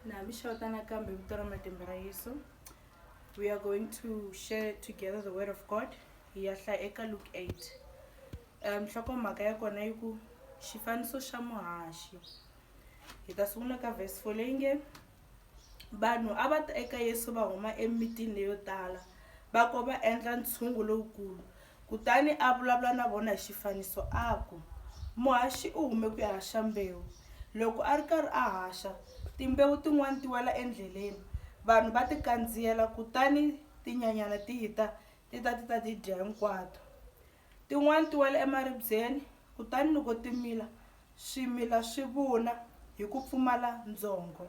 na mi xota nakambe vito ra matimba ra yesu we are going to share together the word of god hi ya hlaya eka luke 8 nhlokomhaka ya kona yi ku xifaniso xa muhaxi hi ta sungula ka vhesi fo leyi nge vanhu a va ta eka yesu va huma emitini leyo tala va ko va endla ntshungu lowukulu Kutani a vulavula na vona hi xifaniso a ku, Muhaxi u hume ku ya haxa mbewu. Loko a ri karhi a haxa, timbewu tin'wana ti wela endleleni, vanhu va ti kandziyela kutani tinyanyana ti ta ti ta ti ta ti dya hinkwato. Tin'wana ti wela emaribyeni, kutani loko ti mila, swimila swi vuna hi ku pfumala ndzhongo.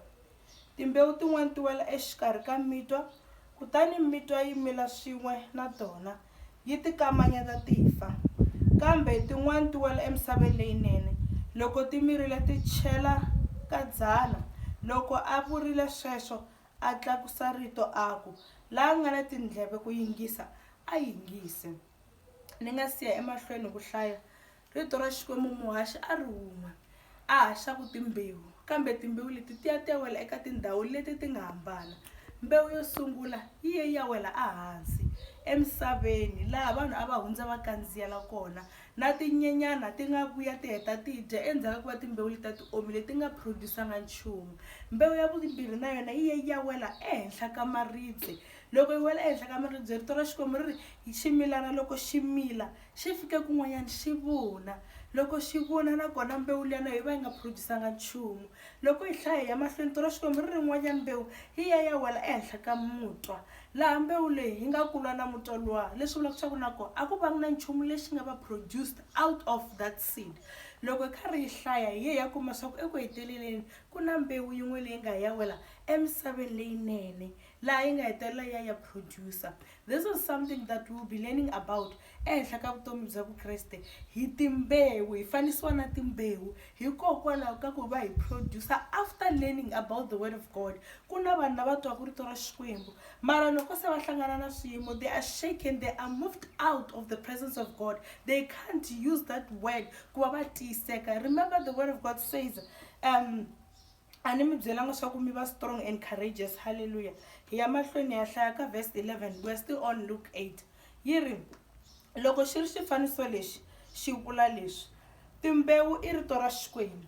Timbewu tin'wana ti wela exikarhi ka mitwa, kutani mitwa yi mila swin'we na tona, yi ti kamanyeta ti fa. Kambe tin'wana ti wela emisaveni leyinene. Loko ti mirile ti chela ka dzana. Loko a vurile sweswo, a tlakusa rito a ku, La nga na tindleve ku yingisa, a yingise. Ni nga si ya emahlweni hi ku hlaya, Rito ra Xikwembu muhaxi a ri un'we a haxaku timbewu, kambe timbewu leti ti ya ti ya wela eka tindhawu leti ti nga hambana. Mbewu yo sungula yi ye yi ya wela ehansi emisaveni, laha vanhu a va hundza va kandziyela kona, na tinyenyana ti nga vuya ti heta ti yi dya endzhaku ka ku va timbewu letiya ti omile ti nga produce-anga nchumu. Mbewu ya vumbirhi na yona yi ye yi ya wela ehenhla ka maribye, loko yi wela ehenhla ka maribye Rito ra Xikwembu ri ri, ximilana loko xi mila Xi fike kun'wanyana xi vuna. Loko xi vuna, nakona mbewu liya na yoho yi va yi nga phurujisanga nchumu. Loko hi hlaya hi ya mahlweni, tona Xikwembu ri ri yin'wanyana mbewu yi ya yi ya wela ehenhla ka mutwa, laha mbewu leyi yi nga kulwa na mutwa luwa, leswi vulaka leswaku na koho a ku vangi na nchumu lexi nga va produced out of that seed. Loko hi karhi hi hlaya, hi ye hi ya kuma leswaku eku heteleleni ku na mbewu yin'we leyi nga ya ya wela emisaveni leyinene, laha yi nga hetelela yi ya yi ya producer. This is something that we'll be learning about ehenhla ka vutomi bya Vukreste hi timbewu, hi fanisiwa na timbewu hikokwalaho ka ku va hi producer after learning about the word of God. Ku na vanhu lava twaka rito ra Xikwembu mara loko se va hlangana na swiyimo they are shaken, they are moved out of the presence of God. They can't use that word ku va va tiyiseka. Remember the word of God says um, a ni mi byelanga swa ku mi va strong and courageous halleluya hi ya mahlweni ya hlaya ka verse 11 we're still on luke 8 yi ri loko xi ri xifaniso lexi xi vula leswi timbewu i rito ra xikwembu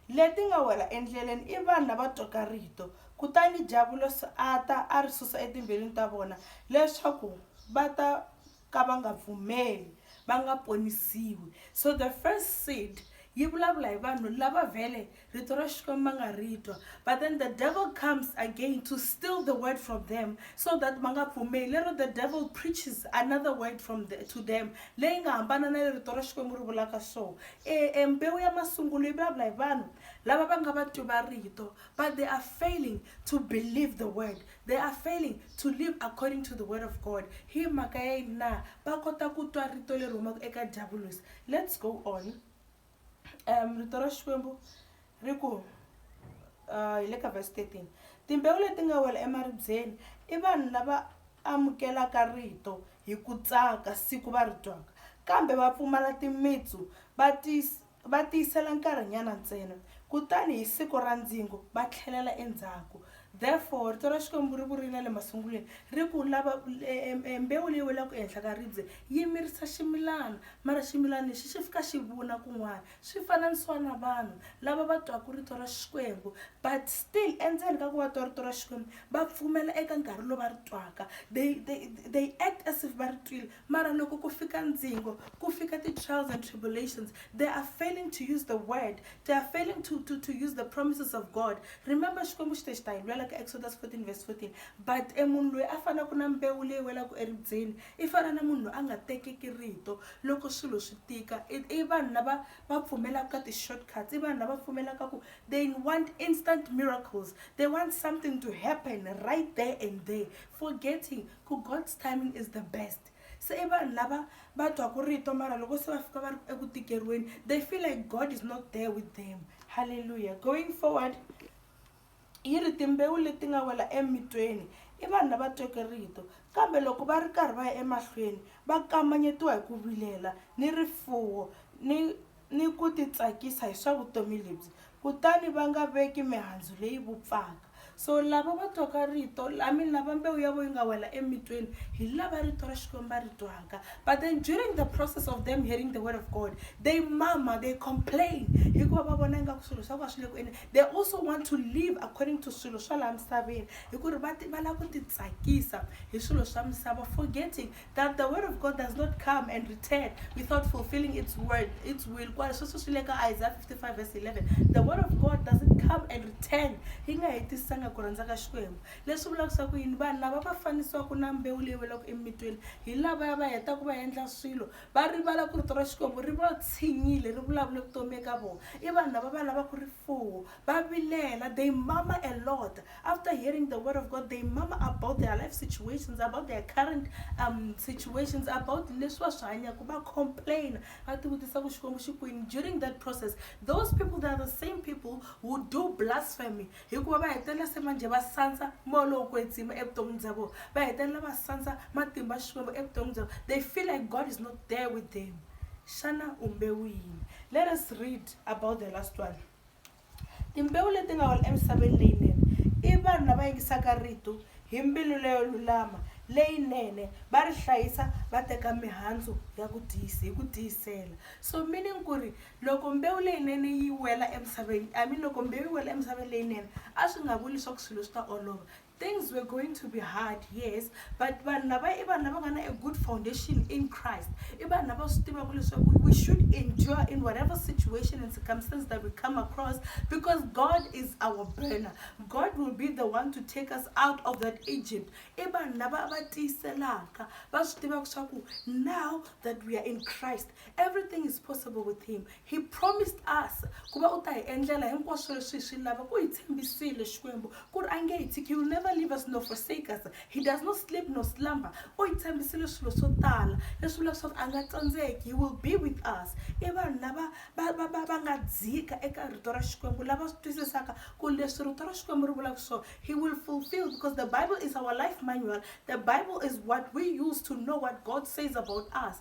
leti nga wela endleleni i vanhu lava twaka rito kutani diyavulosi a ta a ri susa etimbilwini ta vona leswaku va ta ka va nga pfumeli va nga ponisiwi so the first seed yi vulavula hi vanhu lava vhele rito ra xikwembu va nga ri twa but then the devil comes again to steal the word from them so that va nga pfumeli lero the devil preaches another word from the, to them leyi nga hambana na le rito ra xikwembu ri vulaka so e, e mbewu ya masungulo yi vulavula hi vanhu lava va nga va twi va rito but they are failing to believe the word They are failing to live according to the word of God. Hi mhaka ya yini na? Va kota ku twa rito leri humaka eka Diyavulosi. Let's go on. Um, rito ra Xikwembu ri ku uh, hi le ka verse 13. Timbewu leti nga wela emaribyeni i vanhu lava amukelaka rito hi ku tsaka siku va ri twaka kambe va pfumala timitsu va Va tiyisela nkarhinyana ntsena, kutani hi siku ra ndzingo va tlhelela endzhaku. Therefore, rito ra Xikwembu ri vurile le masungulweni ri ku, Lava, e, mbewu leyi welaka ehenhla ka ribye yi mirisa ximilana, mara ximilana lexi xi fika xi vuna kun'wana. Swi fananisiwa na vanhu lava va twaka rito ra Xikwembu, but still endzeni ka ku va twa rito ra Xikwembu va pfumela eka nkarhi lowu va ri twaka. They, they, they act as if va ri twile, Mara loko ku fika ndzingo, ku fika ti trials and tribulations, they are failing to use the word, they are failing to, to, to use the promises of God. Remember Xikwembu xi te xi ta hi lwela ka Exodus 14 verse 14. But e munhu loyi a fanaku na mbewu leyi welaku eribyeni i fana na munhu loyi a nga tekeki rito loko swilo swi tika. I, i vanhu lava va pfumelaka ka ti shortcuts, i vanhu lava pfumelaka ku they want instant miracles, they want something to happen right there and there, forgetting ku God's timing is the best se i vanhu lava va twaku rito mara loko se va fika va ri eku tikeriweni they feel like God is not there with them halleluya going forward yi ri timbewu leti nga wela emitweni i vanhu lava tweke rito kambe loko va ri karhi va ya emahlweni va kamanyetiwa hi ku vilela ni rifuwo ni ni ku titsakisa hi swa vutomi lebyi, kutani va nga veki mihandzu leyi vupfaka. So lava va twaka rito, I mean lava mbewu ya vona yi nga wela emitweni, hi lava rito ra Xikwembu va ri twaka. But then during the process of them hearing the word of God, they murmur, they complain, hikuva va vona ingaku swilo swa vona swi le ku endleni. They also want to live according to swilo swa laha misaveni, hi ku ri va va lava ku titsakisa hi swilo swa misava forgetting that the word of God does not come and return without fulfilling its word, its will. Kwa sweswo swi le ka Isaiah 55 verse 11. The word of God doesn't come and return. Yi nga hetisisanga ku rhandza ka Xikwembu. Leswi vulaka swa ku yini vanhu lava va fanisiwaka na mbewu leyi welaka emitweni hi lavaya va hetaka va endla swilo va rivala ku rito ra Xikwembu ri va tshinyile ri vulavule vutomi eka vona. I vanhu lava va lavaka rifuwo va vilela they mama a lot After hearing the word of God they mama about their life situations about their current um, situations about leswi va swi hanyaka va complain va tivutisa ku xikwembu xi kwini during that process those people they are the same people who do blasphemy hikuva va hetelela se manje va sandza moya lowu kwetsima evuton'wini bya vona va hetelela va sandza matimba xikwembu evuton'wini bya vona they feel like god is not there with them xana umbewu yini let us read about the last one Timbewu leti nga wela emisaveni leyinene i vanhu lava yingisaka rito hi mbilu leyo lulama, leyinene, va ri hlayisa, va teka mihandzu ya ku tiyisa hi ku tiyisela. So meaning ku ri loko mbewu leyinene yi wela emisaveni, I mean loko mbewu yi wela emisaveni leyinene a swi nga vuli leswaku swilo swi ta olova. Things were going to be hard, yes, but vanhu lava i vanhu lava nga na a good foundation in Christ. I vanhu lava swi tivaka leswaku we should endure in whatever situation and circumstance that we come across because God is our burner. God will be the one to take us out of that Egypt. I vanhu lava va tiyiselaka va swi tivaka leswaku now that we are in Christ Everything is possible with him. He promised us ku va u ta hi endlela hinkwaswo leswi hi swi lavaka. U hi tshembisile Xikwembu ku ri a nge hi tshiki. He will never leave us nor forsake us. He does not sleep nor slumber. U hi tshembisile swilo swo tala leswi vulaka leswaku a nga tsandzeki. He will be with us. I vanhu lava va va va va nga dzika eka rito ra Xikwembu lava swi twisisaka ku leswi rito ra Xikwembu ri vulaka swona he will fulfill because the Bible is our life manual. The Bible is what we use to know what God says about us.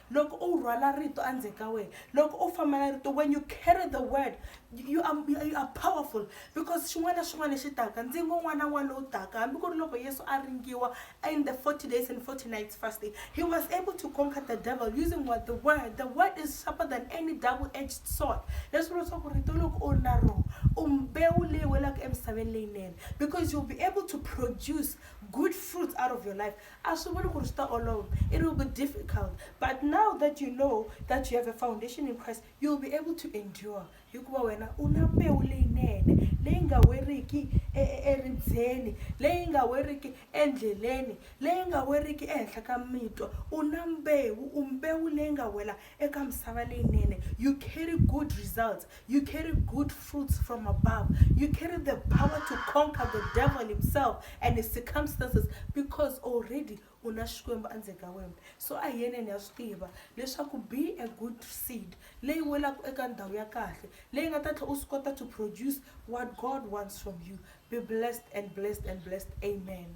Loko u rhwala rito endzeni ka wena, loko u famba na rito, when you carry the word, you are, you are powerful because xin'wana na xin'wana lexi taka, ndzingo wun'wana na wun'wana lowu taka, hambi ku ri loko Yesu a ringiwa in the 40 days and 40 nights fasting, he was able to conquer the devil using what the word. The word is sharper than any double-edged sword. Leswi vula leswaku rito loko u ri na rona, u mbewu leyi welaka emisaveni leyinene because you'll be able to produce good fruits out of your life. A swi vuli ku ri swi ta olova, it will be difficult, but now that you know that you have a foundation in Christ, you will be able to endure hikuva wena u na mbewu leyinene leyi nga weriki e, e, eribyeni, leyi nga weriki endleleni, leyi nga weriki ehenhla ka mitwa. U na mbewu, u mbewu leyi nga wela Eka misava leyinene, you carry good results, you carry good fruits from above, you carry the power to conquer the devil himself and his circumstances because already u na Xikwembu endzeni ka wena. So a hi yeneni hi ya swi tiva leswaku be a good seed leyi welaka eka ndhawu ya kahle leyi nga ta tlhela u swi kota to produce what God wants from you. Be blessed and blessed and blessed. Amen.